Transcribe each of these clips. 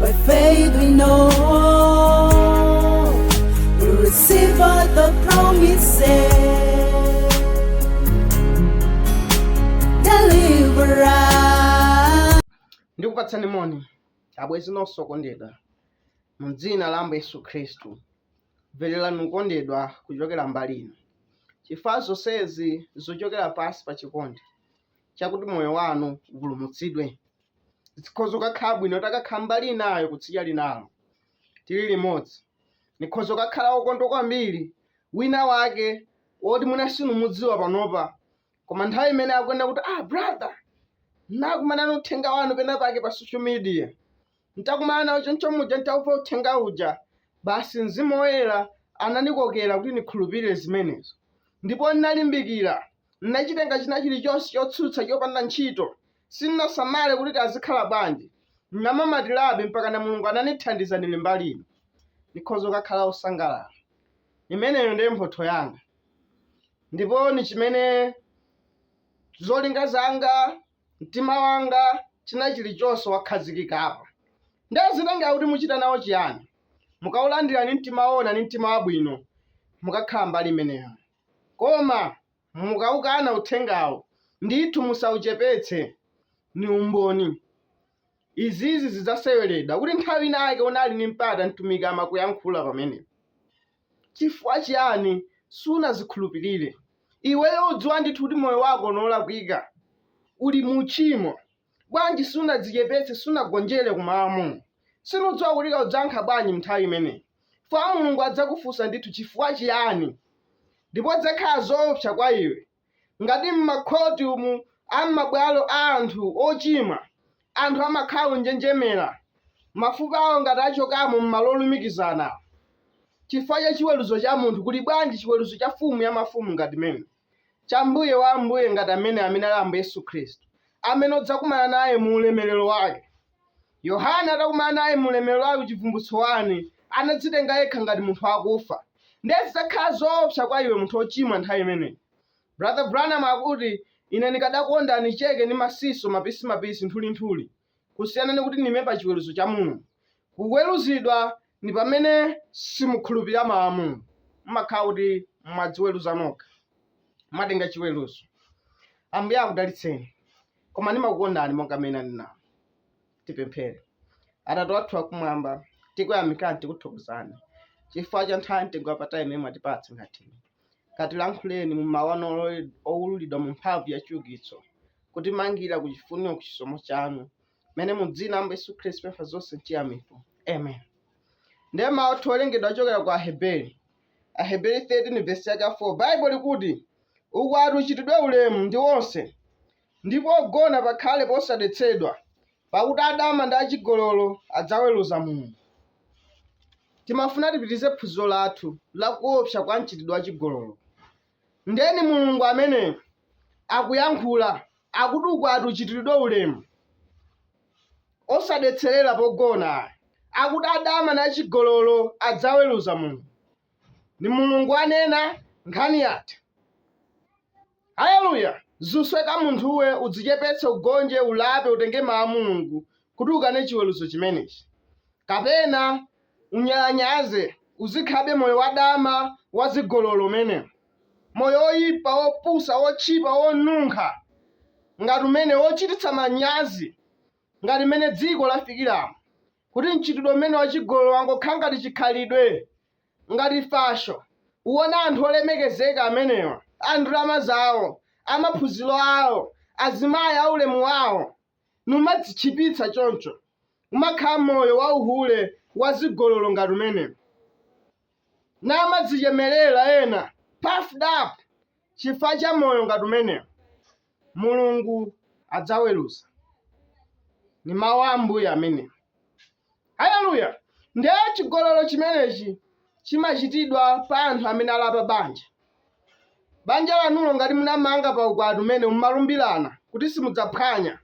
By faith we know we receive all the promises. Deliver us. ndikupatsani moni abwezi nonse okondedwa mu dzina la ambuye yesu khristu mvererani okondedwa kuchokera mbali ino chifukwa zonsezi zochokera pansi pa chikondi chakuti moyo wanu upulumutsidwe zikhoza kukakhala bwino takakhala mbali inayo kutsidya linalo tili limodzi ndikhoza kukakhala wokondwa kwambiri wina wake woti mwina sinumudziwa panopa koma nthawi imene akuenda kuti ah brother nakumana ni uthenga wanu pena pake pa social media ntakumana nawo choncho muja ntauva uthenga uja basi mzimu woyera ananikokera kuti nikhulupirire zimenezo ndipo ndinalimbikira N'nacitenga cina ciliconse cotsutsa copanda nchito. Sin'nasamale kuti kazikhala bwanji, n'namamatilabe mpakana Mulungu ananithandiza nili mbali ino. Nikhoza kukakhala wosangalala. Imeneyo ndiye mphotho yanga. Ndipo ni cimene zolinga zanga, mtima wanga, cina ciliconse wakhazikikapo. Ndiye zitengera kuti mucita nawo ciyani. Mukaulandila ni mtima woona ni mtima wabwino, mukakhala mbali imeneyo. Koma mukaukana uthengawo, ndithu musauchepetse, ni umboni. Izizi zidzaseweledwa kuti nthawi inake unali ni mpata Mtumiki amakuyankhula pamenepo. Chifukwa chiyani sunazikhulupilire? Iweyo udziwa ndithu kuti moyo wako ni olakwika, uli mu uchimo. Bwanji sunadzichepetse, sunagonjere ku mawu a Mulungu? Sindidziwa kuti ukadzayankha bwanji m'nthawi imeneyi? Chifukwa Mulungu adzakufunsa ndithu chifukwa chiyani, ndipo zidzakhala zoopsa kwa iwe ngati m'makhoti umu a m'mabwalo a anthu ochimwa anthu amakhala onjenjemera, mafupa awo ngati achokamo m'malo olumikizana awo, chifukwa cha chiweruzo cha munthu, kuli bwanji chiweruzo cha Mfumu ya mafumu ngati amene? cha Mbuye wa ambuye ngati amene amene ali Ambuye Yesu Khristu, amene udzakumana naye mu ulemerero wake. Yohane atakumana naye mu ulemerero wake Chivumbulutso 1, anadzitenga yekha ngati munthu wakufa. Ndiye zidzakhala zoopsa kwa iwe munthu wochimwa nthawi imeneyi. Brother Branham akuti, Ine ndikadakonda nicheke ndi masizasi mapisimapisi, nthulinthuli. kusiyana ni kuti nime pa chiweruzo cha Mulungu. Kuweruzidwa ni pamene simukhulupirira mawu a Mulungu, mumakhala kuti mwadziweruza nokha, mwatenga chiweruzo. Ambuye akudalitseni, koma nimakukondani monga mmene nanena. Tipemphere. Atate wathu wakumwamba, tikuyamikani, tikuthokozani chifukwa cha nthawi mtengo wapatali imene mwatipatsa ngati ino. katilankhuleni mu mawu anu olole- owululidwa mu mphamvu ya chiukitso, kutimangira ku chifuniro ku chisomo chanu, mmene mu dzina la Ambuye Yesu Khristu pempha zonse mchiyamiko. Amen. Ndiye mawu athu owerengedwa achokera ku Aheberi. Aheberi 13 vesi yake ya 4 Baibulo likuti, ukwati uchitidwe ulemu ndi onse, ndi pogona pakhale posadetsedwa, pakuti adama ndi achigololo adzaweruza Mulungu. Timafuna tipitirize phunziro lathu la kuopsa kwa mchitidwe wa chigololo. Nde ni Mulungu amene akuyankhula, akuti ukwati uchitiridwe ulemu, osadetserera pogona ayi. Akuti adama ndi achigololo adzaweruza Mulungu. Ndi Mulungu anena, nkhani yatha. Aleluya! Zikusoweka munthuwe udzichepetse ugonje ulape utenge mau a Mulungu kuti ukane chiweruzo chimenechi kapena unyalanyaze uzikhalabe moyo wa dama wa zigololo umenewo moyo oyipa wopusa wotchipa wonunkha ngati umenewo wochititsa manyazi ngati mmene dziko lafikiramo kuti mchitidwe umene wa chigololo wangokhala ngati chikhalidwe Ngati fasho, kuwona anthu olemekezeka amenewa, a ndalama zawo, a maphunziro awo, azimayi a ulemu wawo, numadzitchipitsa choncho, kumakhala moyo wa uhule wa zigololo ngati umenewo, namadzichemerera ena, puffed up, chifukwa cha moyo ngati umenewo. Mulungu adzaweruza. Ndi Mawu a Ambuye amenewo. Aleluya! Ndiye chigololo chimenechi chimachitidwa pa anthu amene ali apabanja. Banja lanulo ngati munamanga pa ukwati umene mumalumbirana kuti simudzaphwanya,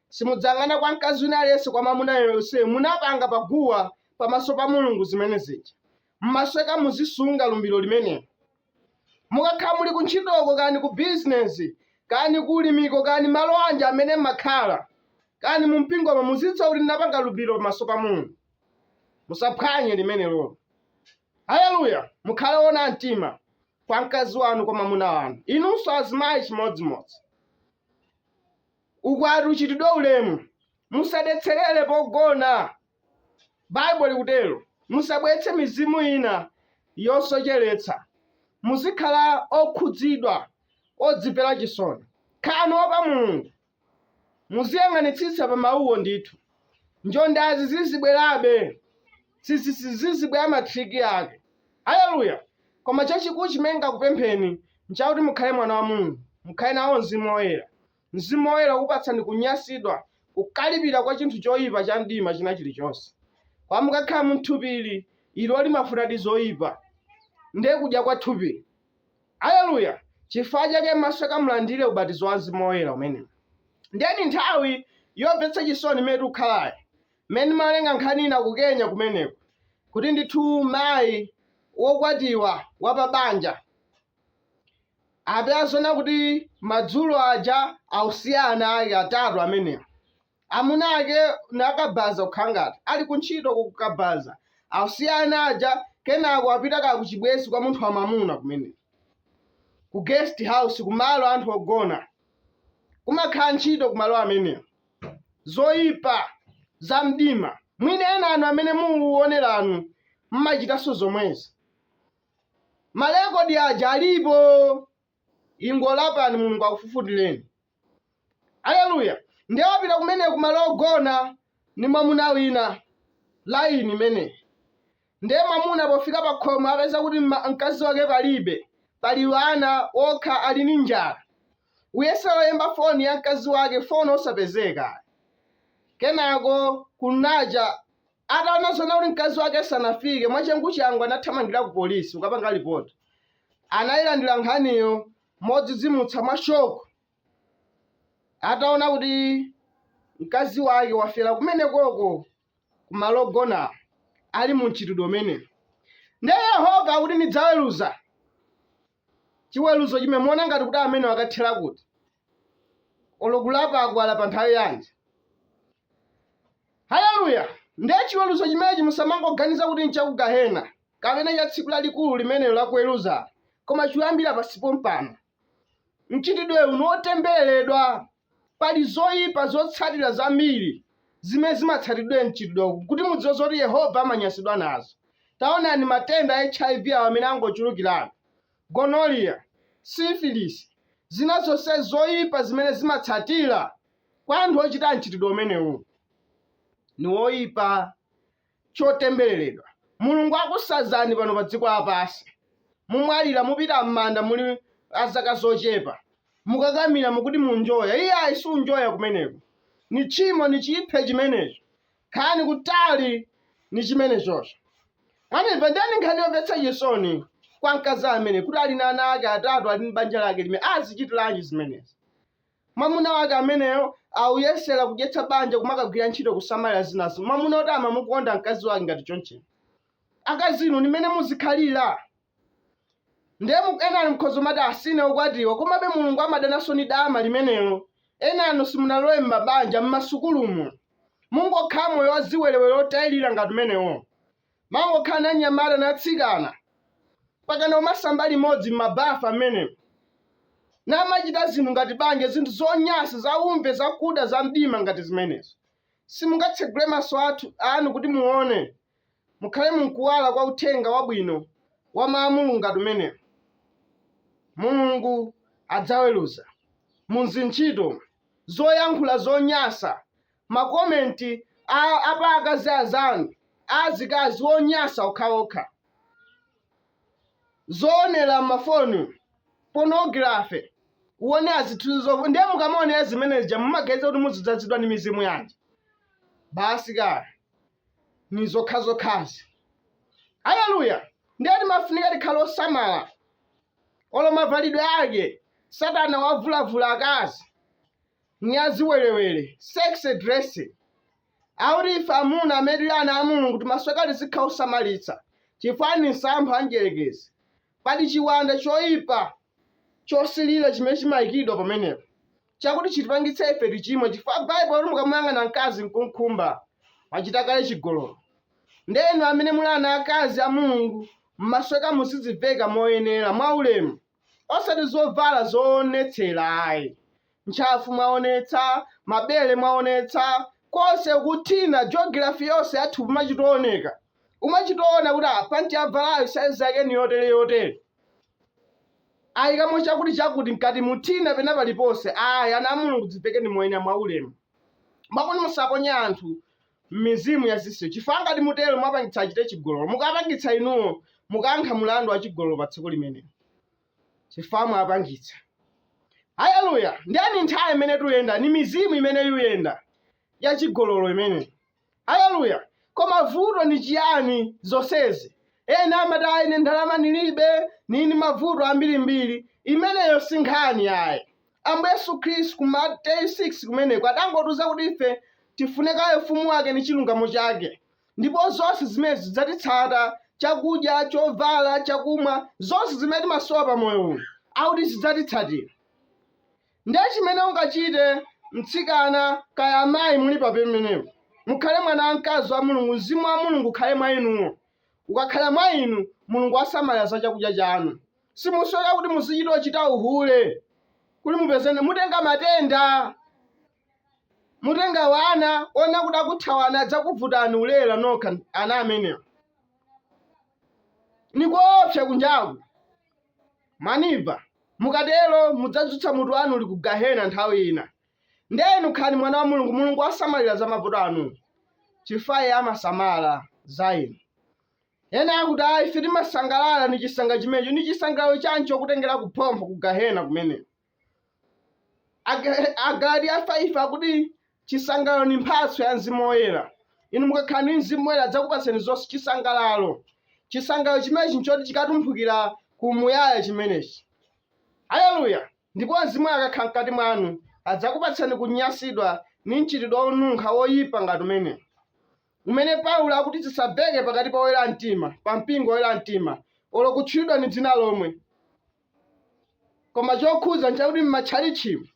simudzayang'ana kwa mkazi wina aliyense kwa mwamuna aliyense, munapanga pa guwa pamaso pa Mulungu zimene zija. Mumasoweka muzisunga lumbiro limenelo. mukakhala muli kuntchitoko kani ku bizinesi kani ku ulimiko kani malo anji amene mmakhala kani mu mpingomo muzidziwa kuti ndinapanga lumbiro pamaso pa mulungu musaphwanye limenelo haleluya mukhale owona mtima kwa mkazi wanu kwa mwamuna wanu inunso azimayi chimodzimodzi ukwati uchitidwe ulemu musadetserere pogona Baibulo likutero. Musabweretse mizimu ina yosocheretsa. Muzikhala okhudzidwa, odzipera chisoni. Khalani oopa Mulungu. Muziyang'anitsitsa pa mauwo ndithu. Njondazi zizibwerabe. Zizibwera matriki ake. Aleluya! Koma chachikulu chimene ndingakupempheni n'chakuti mukhale mwana wa Mulungu. Mukhale nawo mzimu woyera. Mzimu Woyera ukupatsani kunyasidwa, kukalipira kwa chinthu choipa cha mdima china chilichonse. Koma mukakhala mu thupi ili, ilo limafunadi zoipa. Ndiye kudya kwa thupi. Aleluya! Chifukwa chake masukani mulandire ubatizo wa Mzimu Woyera umenewo. Ndiye ndi nthawi yomvetsa chisoni imene tikukhalayi, mmene ndimawerenga nkhani ina ku Kenya kumeneko, kuti ndithu mayi wokwatiwa wa pa banja Apezeka kuti madzulo aja awasiya ana ake atatu amenewa, amuna ake ndi akabaza kukhala ngati ali kuntchito ku kabaza awasiya ana aja kenako apita kaya kuchibwenzi kwa munthu wa mamuna kumene ku guest house kumalo anthu ogona kumakhala ntchito kumalo amenewa zoipa za mdima mwina ena inu amene mukuoneranu mmachitanso zomwezi Ma record aja alipo. Ingolapani Mulungu akufufutireni. Haleluya. Ndiye wapita kumene kumalo ogona ndi mwamuna wina line imene. Ndiye mwamuna pofika pa khomo apeza kuti mkazi wake palibe. Pali ana okha ali ndi njala. Ayesa kuyimba foni ya mkazi wake foni osapezeka. Kenako kunacha Ataona zoona kuti mkazi wake sanafike, mwachanguchangu anathamangira ku polisi kukapanga lipoti. Anayilandira nkhaniyo modzidzimutsa mwa shoko ataona kuti mkazi wake wafera kumenekoko ku malo ogonawo ali mu mchitidwe umenewu. Ndiye Yehova akuti ndidzaweruza chiweluzo chimene muona ngati kuti amene wakathela kuti olo kulapa akulapa nthawi yanji haleluya ndiye chiweluzo chimenechi musamangoganiza kuti nchakugahena kapena cha tsiku lalikulu limenelo lakuweluza koma chiyambira pansi pompano mchitidwe uno wotembereredwa Pali zoipa zotsatira zambiri zimene zimatsatira mchitidwewu. Kuti mudziwe zoti Yehova amanyansidwa nazo, taonani matenda a HIV awa amene angochulukirabe, gonorrhea, syphilis, zina zonse zoipa zimene zimatsatira kwa anthu ochita mchitidwe umenewu ni woipa. chotembeleledwa mulungu akusazani pano padziko lapansi mumwalila mupita mmanda muli azaka zochepa mukakakamila mukuti munjoya iyayi sikunjoya kumeneko ni tchimo ni chiphe chimenecho khalani kutali ni chimenechocho mwandimva ndiye ni nkhani yomvetsa chisoni kwa mkazi amene kuti ali na ana ake atatu ali mbanja lake limene azichitilanji zimenezi Mwamuna wake ameneyo auyesera kudyetsa banja kumakagwira ntchito kusamalira zinazo. Mwamuna woti amamukonda mkazi wake ngati chonchi. Akazi inu ndi mmene muzikhalira. Ndiye mu- ena ali mkhozo mati osati ine okwatiwa komabe Mulungu amadananso ndi dama limenelo. Enanu simunalowe m'mabanja m'masukulumu. Mungokhala moyo waziwerewere otayirira ngati umenewo. Mangokhala ndi anyamata ndi atsikana mpakana kumasamba limodzi m'mabafa mmenemo, namachita zinthu ngati banja, zinthu zonyansa, zaumve, zakuda, zamdima ngati zimenezo. Simungatsegule maso athu, anu kuti muone, mukhale munkuwala kwa Uthenga wabwino wa Mawu a Mulungu ngati umenewo. Mulungu adzaweruza mu zintchito, zoyankhula zonyansa, ma comment a apa akazi azanu a azikazi wonyasa okhaokha zoonera m'ma phone pornography uone azithuzo ndiye mukamaonera zimene zija mumaganiza kuti muzidzazidwa ndi mizimu yanji basi kaya ni zokhazokhazi haleluya ndiye timafunika tikhale osamala olo mavalidwe ake satana wavulavula akazi nyaziwerewere, sexy dressing, kuti ife amuna amene tili ana a Mulungu timasoweka tizikhala osamalitsa chifukwa ndi msampha wa Mdyerekezi. Pali chiwanda choipa chosilira chimene chimaikidwa pamenepo chakuti chitipangitse ife tichimwe chifukwa Baibulo lati mukamuyang'ana mkazi n'kum'khumba, wachita kale chigololo. Ndiye inu amene muli ana aakazi a Mulungu mumasoweka muzidziveka moyenera, mwaulemu. osati zovala zoonetsera ayi ntchafu mwaonetsa mabere mwaonetsa konse kuthina geography yonse ya thupi machitooneka umachitoona kuti ah, panti wavalayo saizi yake ni yotere yotere ayikamo chakuti chakuti mkati muthina pena paliponse ayi ana a mulungu dzivekeni moyenera mwa ulemu mwakuti musaponye anthu m'mizimu yazisiyo chifukwa ngati mutero mwapangitsa achite chigololo mukapangitsa inuwo mukayankha mulandu wa chigololo pa tsiku limenelo chifukwa mwapangitsa haleluya ndiye ni nthawi imene tuyenda ni mizimu imene yuyenda ya chigololo imene haleluya koma vuto ni chiyani zonsezi ena amati ayi ine ndalama nilibe nini mavuto ambirimbiri imeneyo si nkhani ayi Ambuye Yesu Khristu ku Mateyu 6 kumeneko adangotiuza kuti ife tifune kaye ufumu wake ndi chilungamo chake, ndipo zonse zimene zidzatitsata, chakudya, chovala, chakumwa, zonse zimene timasowa pa moyo uno, akuti zidzatitsatira. Ndiye chimene ungachite mtsikana kaya amayi muli pa pamenepo, mukhale mwana wamkazi wa Mulungu, mzimu wa Mulungu ukhale mwa inuwo. Ukakhala mwa inu, Mulungu asamalira za chakudya chanu. simusowa kuti muzichita kuchita uhule kuti mupeze mutenga matenda mutenga wana oona adzakuthawani adzakuvutani mulera nokha ana amenewa ni koopsa kunjaku mwandimva mukatero mudzadzutsa mutu wanu uli ku gahena nthawi ina nde inu khalani mwana wa mulungu mulungu asamalira za mavuto anu chifukwa iye amasamala za inu Ena akuti, ayi, ife timasangalala ni cisangalalo cimeneci. Ni cisangalalo canji cokutengela ku phompho, ku Gahena kumeneko? Ag- Agalatiya 5 akuti cisangalalo ni mphatso ya mzimu woyela. Inu mukakhala ndi mzimu woyela adzakupatsani zonse cisangalalo. Cisangalalo cimeneci n'coti cikatumphukile ku umuyaya cimeneci. Haleluya! Ndipo mzimu woyela akakhala mkati mwanu, adzakupatsani kunyansidwa ni mcitidwe wonunkha woipa ngati umenewo. umene Paulo akuti zisamveke pakati pa oyera mtima, pa mpingo oyera mtima, olo kutchulidwa ni dzina lomwe. Koma chokhuza nchakuti m'matchalitchimu,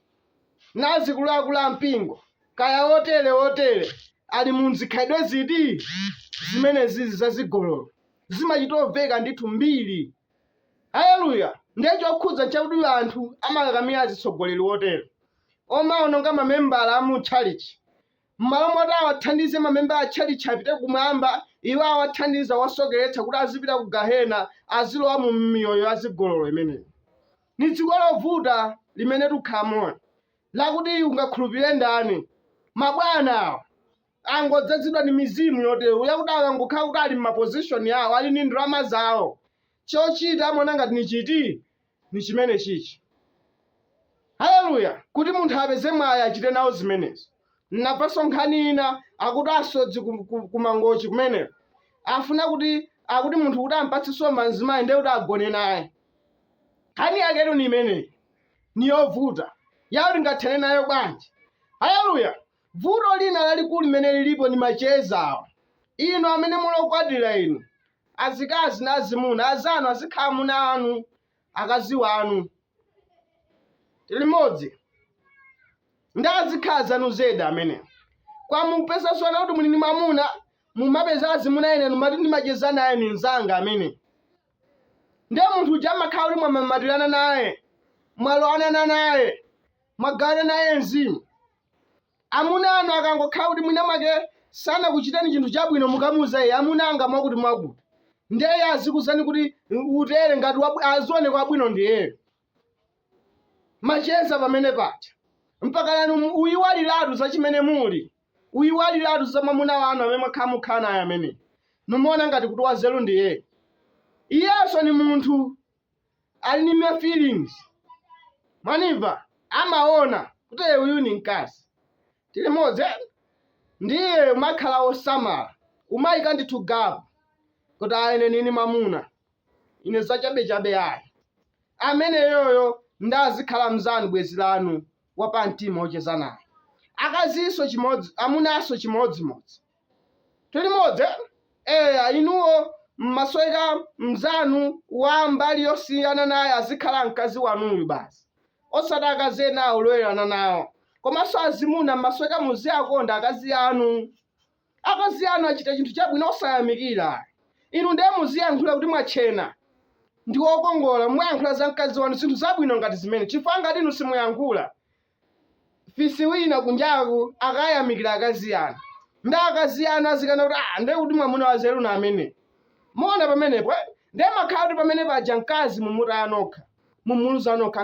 ndi azikuluakulu a mpingo, kaya otere otere, ali mu zikhalidwe ziti? Zimenezizi za zigololo. Zimachito mveka ndithu mbiri. Haleluya! Ndiye chokhuza nchakuti anthu amakakamira azitsogoleri otere, omaononga mamembala a mu tchalitchi, M'malo moti awathandize mamembala a tchalitchi apite kumwamba, iwo awathandiza kuwasokeretsa kuti azipita ku Gahena, azilowa mu miyoyo ya zigololo imeneyi. Ni dziko lovuta limene tikukhalamoli, lakuti ungakhulupilile ndani? Mabwana awa angodzazidwa ni mizimu yotele, yakuti akangokhala kuti ali m'mapozishoni awo, ali ni ndalama zawo, cocita amaona ngati ni citi? ni chimenechichi. Haleluya! Kuti munthu apeze mwayi achite nawo zimenezi. Nnamvanso nkhani ina akuti asodzi ku, ku, ku Mangochi kumeneko afuna kuti akuti munthu kuti ampatse nsomba mzimayi ndiye kuti agone naye. Nkhani yaketu ni imeneyi, ni yovuta yoti tingathane nayo bwanji? Haleluya! Vuto lina lalikulu limene lilipo ndi macheza awa, inu amene muli okwatira inu azikazi ndi azimuna anzanu azikhala amuna anu, akazi wanu, limodzi ndi azikhala anzanu zedi amene koma mupeza zoona kuti muli ndi mwamuna mumapeza azimuna ena numati ndimacheza naye ni mzanga amene ndiye munthu uja amakhala kuti mwamamatirana naye mwalowanana naye mwagawana naye mzimu Amuna anu akangokhala kuti mwina mwake sanakuchiteni chinthu chabwino mukamuuza iye amuna anga mwakuti mwakuti ndiye iye azikuzani kuti utere ngati wabwi- azioneka wabwino ndiyeyo macheza pamenepaja mpakana inu mu- muyiwaliratu za chimene muli muyiwaliratu za mwamuna wanu amene mwakhala mukhala naye amene nimumaona ngati kuti wazeru ndiyeyo iyenso ni munthu ali ni ma feelings mwaniva amaona kuti "Eh, uyu ni mkazi tili modzi eh?" ndiye umakhala wosamala umayika ndithu gapu kuti aa ine nini mwamuna ine zachabechabe ayi ameneyoyo ndiye azikhala mzanu bwenzi lanu wapamtima wocheza naye akazinso chimodzi amunanso chimodzimodzi Tilimodzi eh? Eya, inuo muzimasuka mnzanu wa mbali yosiyana naye azikhala mkazi wanuyu basi, osati akazi enawo olowerana nawo. Komanso azimuna muzimasuka muziwakonda akazi anu. Akazi anu achita chinthu chabwino osayamikira. Inu ndiye muziyankhula kuti mwatchena ndi wokongola, muyankhula za mkazi wanu zinthu zabwino ngati zimene, chifukwa ngati inu simuyankhula fisi wina kunjaku akayamikira akazi anu ndi akazi anu azikana kuti ah ndiye kuti mwamuna wanzeru ndi amene muona pamenepo eh? ndiye mumakhala kuti pamene paja mkazi mumutaya nokha mumuluza nokha